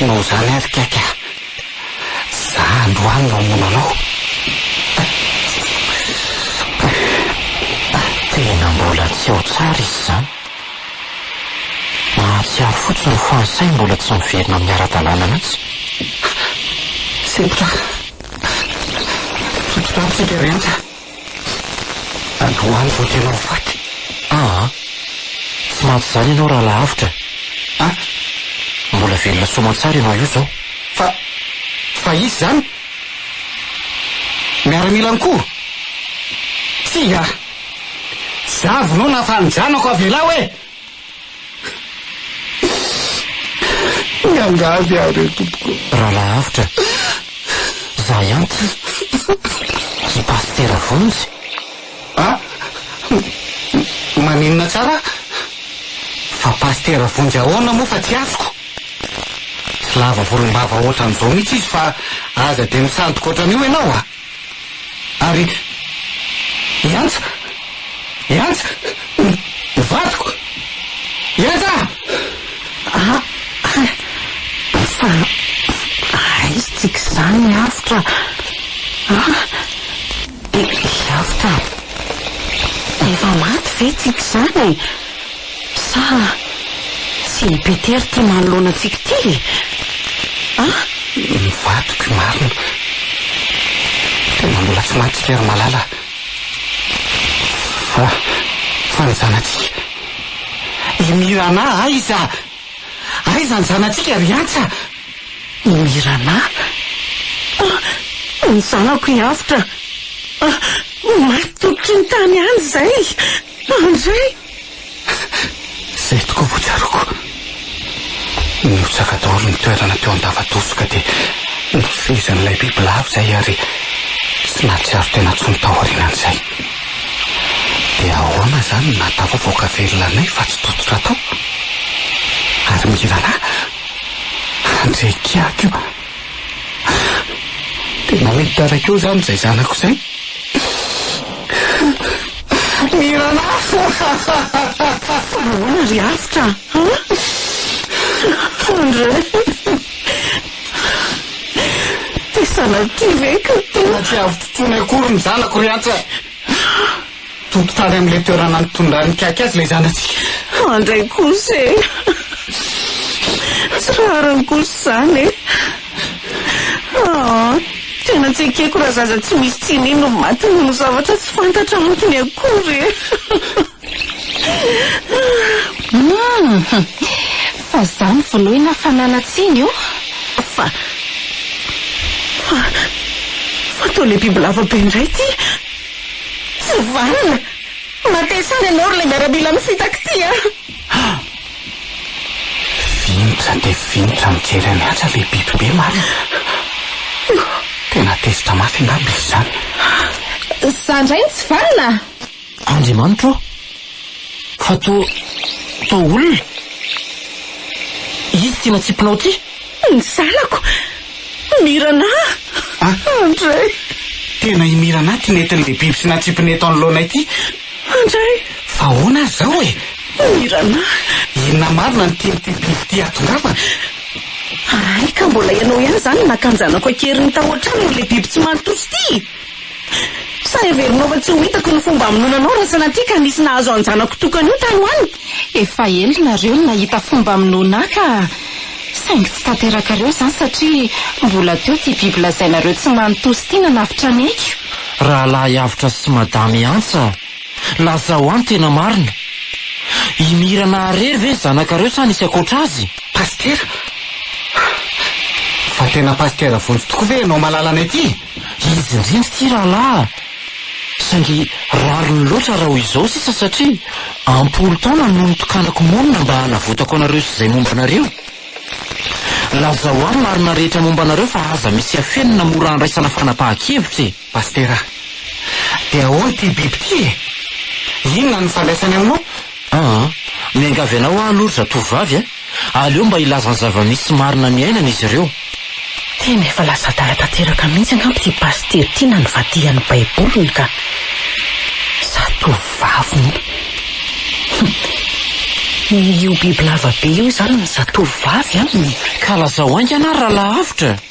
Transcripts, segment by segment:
Tinao izany ary kaiky ah. Za androany no hamono anao. Tena mbola tsy ao tsara izy izany. Mahatsiaro fotsiny fa ny sainy mbola tsy miverina amin'ny ara-dalàna mihitsy. Sempotra tsotra tamiko ity rehetra. Androany vao tena ho faty. Aa! Tsy mantsy izany ianao raha lavitra e! Ah! Mbola velona soa aman-tsara ianao io izao. Fa, fa izy izany? Miaramila ihany koa? Tsia! Za vno nafaly ny zanako avelao e! Miangavy aho re tompoko. Rahalahy avotra, za ihany ty, i Pasitera Vonjy. Ah! Maninona tsara? Fa Pasitera Vonjy ahoana moa fa tsy azoko? Tsy lava volombava ohatran'izao mihitsy izy fa aza dia misandoka ohatran'io ianao a! ary iantso, iantso ny vadiko, iantso ah! Ah! Fa aiza tsika izany avotra ah? Ry avotra, efa maty ve tsika izany e? Sa tsy i Peter ity manoloana antsika ity e? Ah! Ny vadiko i Marina. Tena mbola tsy mahatsika ry Malala. Fa, fa ny zanatsika. I Mirana aiza? Aiza ny zanatsika ry Antsa? I Mirana? Ah! Ny zanako i Avotra. Ah! Maty tokony tany any izay. Andry! Izay tokoa vao tsaroako. Nihotsaka daholo ny toerana teo an-dava-doso ka dia nofehezin'ilay bibilava izay ary tsy nahatsiaro tena intsony taorianan'izay. Dia ahoana izany no nahatafavoaka velona anay fa tsy tototra tao? Ary ny rahalahy? Handre kiaka io! Tena hoe hitaraiky eo izany izay zanako izay. Mirana! Ahoana ry Avotra a? André! Te sanatria ve ka? Tena tsy azo totoina akory ny zanako ry Atra. Haa! Toto tany amin'ilay toerana nitondran'ny kiaky azy ilay zanatsika. An dray kosa e! Tsy rariny kosa izany e! Haa! Tena tsy ekeko raha zaza tsy misy tsiny no maty noho ny zavatra tsy fantatra antony akory e! Humm! Fa za no vonoina fa nanatsiny o! Fa. Fa. Fa toa le bibilava be indray ty! Tsy vanona! Matesa any ianao ry le miaramila mifitaky ty a! Ha! Vinitra dia vinitra mijery any atsy ilay biby be marina! Tena tezitra mafy angamba izy izany! Za indray no tsy vanona! Andriamanitra ô! Fa toa, toa olona? Izy ity natsipinao ity? Ny zanako! Mirana! Andray! Tena i Mirana ity nentin'ilay biby sy natsipiny eto anoloanay ity! Andray! Fa ahoana ary izao e? Mirana! Inona marina no tian'ity biby ity hatongavana? Hay ka mbola ianao ihany izany no naka ny zanako an-keriny tao an-tranon'ilay biby tsy manan-tosa ity! Sa heverinao fa tsy ho hitako ny fomba hamonoana anao raha sanatria ka nisy nahazo an-janako tokana io tany ho any? Efa ela nareo no nahita fomba hamonoana ahy ka! Saingy tsy tanterakareo izany satria mbola teo ity biby lazainareo tsy manintosa ity nanavotra ny aiko. Rahalahy avotra sy madame antsa, lazao ahy ny tena marina. I Mira Naharery ve ny zanakareo sa nisy ankoatra azy? Pasitera? Fa tena pasitera vonjy tokoa ve ianao malalanay ity? Izy indrindra ity rahalahy a! Saingy rariny loatra raha ho izao sisa satria am-polo taona no nitokanako monina mba hanavotako anareo sy izay momba anareo. Lazao ahy ny marina rehetra momba anareo fa aza misy afenina na mora andraisana fanapahan-kevitra e! Pasitera, dia ahoana ity biby ity e? Inona no nifandraisany aminao? Aa, miangavy anao aho aloha ry zatovovavy a! Aleo mba hilaza ny zava-misy marina niainany izy ireo. Tena efa lasa adala tanteraka mihitsy angamba ity pasitera ity na ny vadihan'ny baiboliny ka! Zatovovavy moa. Hum. Io bibilava be io izany ny zatovovavy an! Ka lazao haingana ary raha lavitra!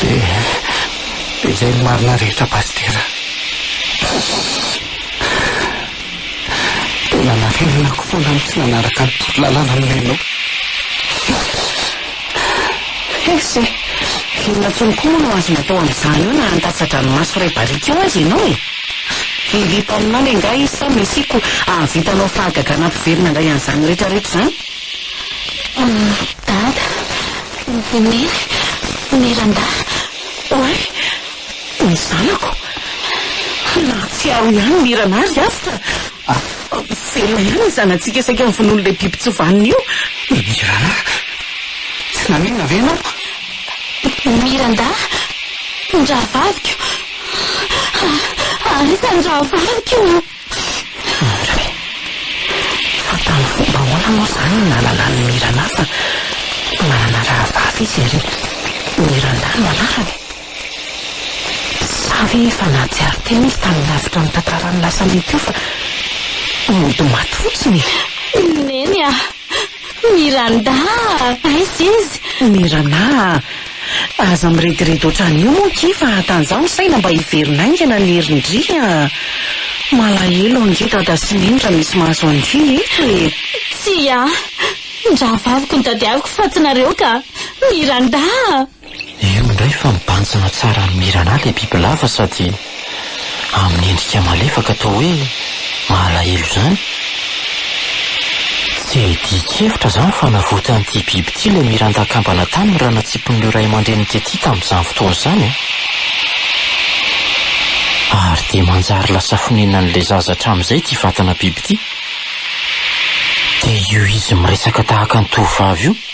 Dia dia izay no marina rehetra Pasitera. Dia nanarenako foana ny tsy nanaraka ny torolalana nomenao. Hes e! Inona intsony koa moa no azonao atao amin'izany eo na handatsa-dranomaso iray barika eo aza ianao e! Hiriako aminao le ngahy izy sa mesiako hahavitanao fahagagana ampiverina indray an'izany rehetrarehetra izany? Dada, Neny, Ry randahy, oay, ny zanako. Na tsy ao ihany ny hiranà ry Avotra, velona ihany ny zanatsika saika novonoin'ilay biby tsy vanona io. Ny hiranà, Tsy naninona ve ianao? Mirandahy, Ny rahavaviko, ary iza ny rahavaviko? Indray, fa tamin'ny fomba ahoana moa izany no nanana an'i Mirana fa manana rahavavy izy ary Miranda no anarany? Sa ve efa nahatsiaro tena izy tamin'ny lavitra ny tantaran'ny lasa mety ho fa mody maty fotsiny e? Neny a! Ny randaha! Aiza izy? Ny randaha! Aza mirediredy ohatran'ny io moa ki fa hatanzaho ny saina mba hiverina haingana ny herin-dry a! Malahelo ange dada sy neny raha misy mahazo an-dry eto e! Tsia! Ny rahavaviko no tadiaviko fa tsy nareo ka! Ny randaha! Io indray fa mibanjina tsara an'i Mirana ilay bibilava sady amin'ny endrika malefaka toa hoe mahalahelo izany. Tsy hay dihin-kevitra izany fa navotan'ity biby ity ilay Miranda akambana tany ny ranatsipon'ireo ray aman-dreniny tety tamin'izany fotoana izany. Ary dia manjary lasa fonenan'ilay zaza hatramin'izay ity vatana biby ity. Dia io izy miresaka tahaka ny tovovavy io.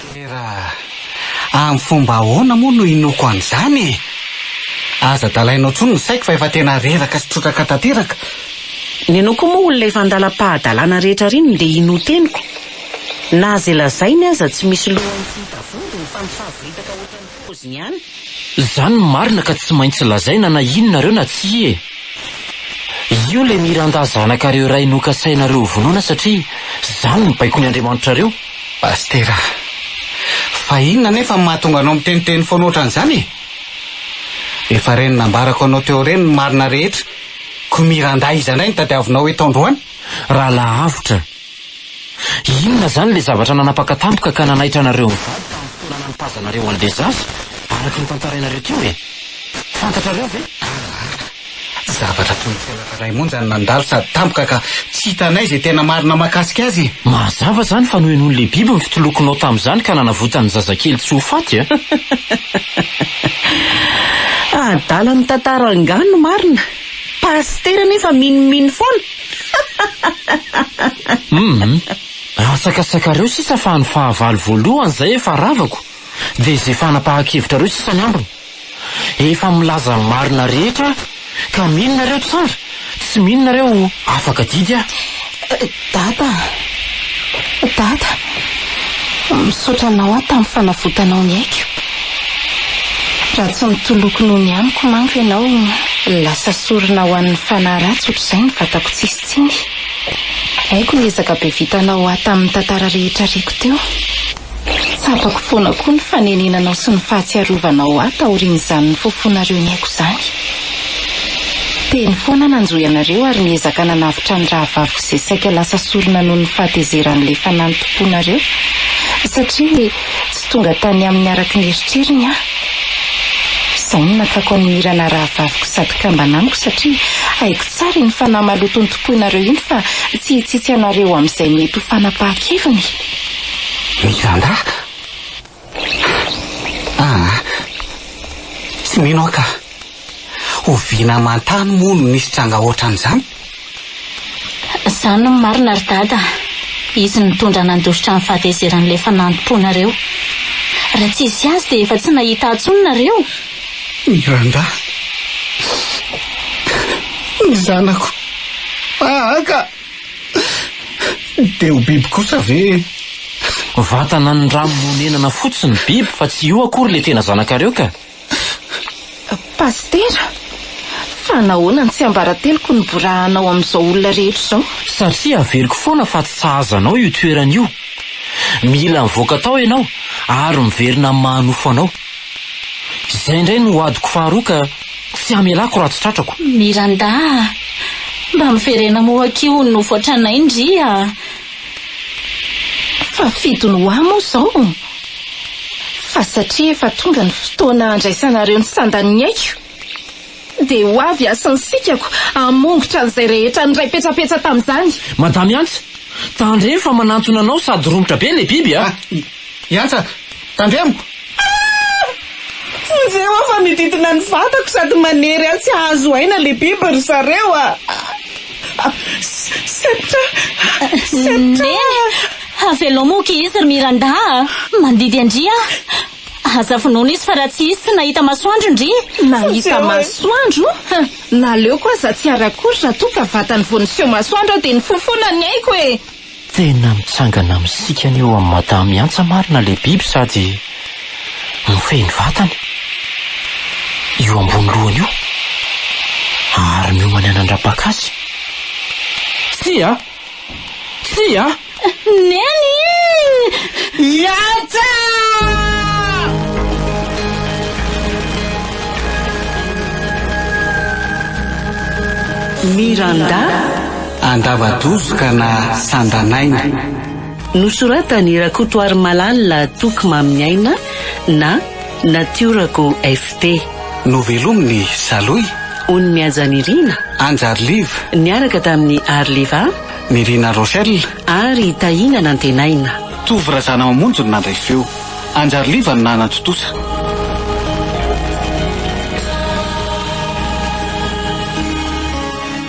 Tera, amin'ny fomba ahoana moa no inoako an'izany e? Aza dalainao intsony ny saiko fa efa tena reraka sy trotraka tanteraka. Ny anao koa moa olona efa andalam-pahadalana rehetra r'inona dia inoa teniko? Na izay lazainy aza tsy misy lohany tsy hita vody ny fampifavoritaka ohatran'ireny. poziny ihany. Zany no marina ka tsy maintsy lazaina na ino nareo na tsia e! Io le Miranda zanakareo iray nokasainareo ho vonoina satria zany no baikony Andriamanitrareo. Pastera a! Fa inona anefa no mahatonga anao miteniteny foana ohatran'izany e? Efa ireny nambarako anao teo ireny ny marina rehetra, ko Miranda iza indray no tadiavinao eto androany? Raha lavitra Inona izany ilay zavatra nanapaka tampoka ka nanaitra anareo mivady tamin'ny fotoana nanipazanareo an'ilay zaza, araka ny tantarainareo teo e? Fantatrareo ve? Aahh, zavatra toy ny felaka iray monja no nandalo sady tampoka ka tsy hitanay izay tena marina mahakasika azy e! Mazava izany fa nohenoin'ilay biby ny fitolokonao tamin'izany ka nanavotany ny zazakely tsy ho faty a! Adala mitantara angaha no marina? Pasitera anefa minomino foana! Humm, atsakatsakareo sisa fa ny fahavalo voalohany izay efa ravako dia izay fanapahan-kevitrareo sisa ny ambiny. Efa milaza ny marina rehetra aho ka mino nareo tsara tsy mino nareo afaka didy aho. Dada a! Dada! Misaotra anao aho tamin'ny fanavotanao ny aiko. Raha tsy mitoloko noho ny amiko manko ianao, lasa sorona ho an'ny fanahy ratsy ohatr'izay ny vatako tsisy tsiny. Haiko ny ezaka be vitanao ho ahy tamin'ny tantara rehetra reko teo. Tsapako foana koa ny fanenenanao sy ny fahatsiarovanao ahy taorian'izany nifofonareo ny aiko izany. Teny foana aho nanjohy anareo ary niezaka nanavotra ny rahavaviko izay saika lasa sorona noho ny fahatezeran'ilay fanahy nitompoanareo, satria Tonga tany aminy araka ny eritreriny aho. Izay no natsako an'i Mira na rahavaviko sady kambana amiko satria haiko tsara iny fanahy maloto notompoinareo iny fa tsy hitsitsy anareo amin'izay mety ho fanapahan-keviny. Miranda? Ah, tsy mino aho ka. Oviana aman-tany moa no nisy tranga hoatran'izany? Izany no marina ry Dada a! Izy no nitondra nandositra ny fahatezeran'ilay fanampoanareo. Raha tsy hisy azy dia efa tsy nahita ahy intsony nareo! Miranda, ny zanako Ahaka dia ho biby kosa ve e? Vatana niramonenana fotsiny biby fa tsy io akory ilay tena zanakareo ka! Pasitera, fa nahoana no tsiambarateloko no borahanao amin'izao olona rehetra izao? Satria averiko foana fa tsy sahaza anao io toerana io. Mila mivoaka tao ianao ary miverina amin'ny maha nofo anao. Izay indray no adiko faharoa ka tsy hamelako raha tsy tratrako. Miranda a! Mba miverena moa akia ho nofo hatranain-dry a! Fa fidiny ho ahy moa izao fa satria efa tonga ny fotoana handraisanareo ny sandan'ny aiko dia ho avy aho sy ny sikako hamongotra an'izay rehetra niray petsapetsa tamin'izany. Madame Ants, tandremo fa manantona anao sady romotra be ilay biby a! Hiantsaka! Tandremiko! Vonjeo aho fa mididina ny vatako sady manery ahy tsy hahazo aina le biby ry zareo a! Sepotra! Sepotra! Neny! Havelomo ki izy ry Miranda a! Mandidy an-dry aho! Aza vonoina izy fa raha tsy izy tsy nahita masoandro ndry! Nahita masoandro? Naleoko aza tsy hiara-akory raha toa ka vatany vao niseho masoandro aho dia nifofona ny aiko e! Tena mitsangana misikana eo amin'i Madame Antsa marina ilay biby sady mifehy ny vatany, io ambony lohany io, ary miomany hanandrapaka azy. Tsia! Tsia! Neny! I Antsa! Miranda! Andava-doza ka na sandan'aina. Nosoratan'i Rakotoarimalala Toky Mamin'ny Aina na Natiorako FP. Novelomin'i Salohy. Ony Mihaja Nirina. Anjary Liv. Niaraka tamin'i Ary Liva. Nirina Rochelle. Ary Tahina Nantenaina. Tovo Razanamamonjy no nandray feo. Anjary Liva no nanatontosa.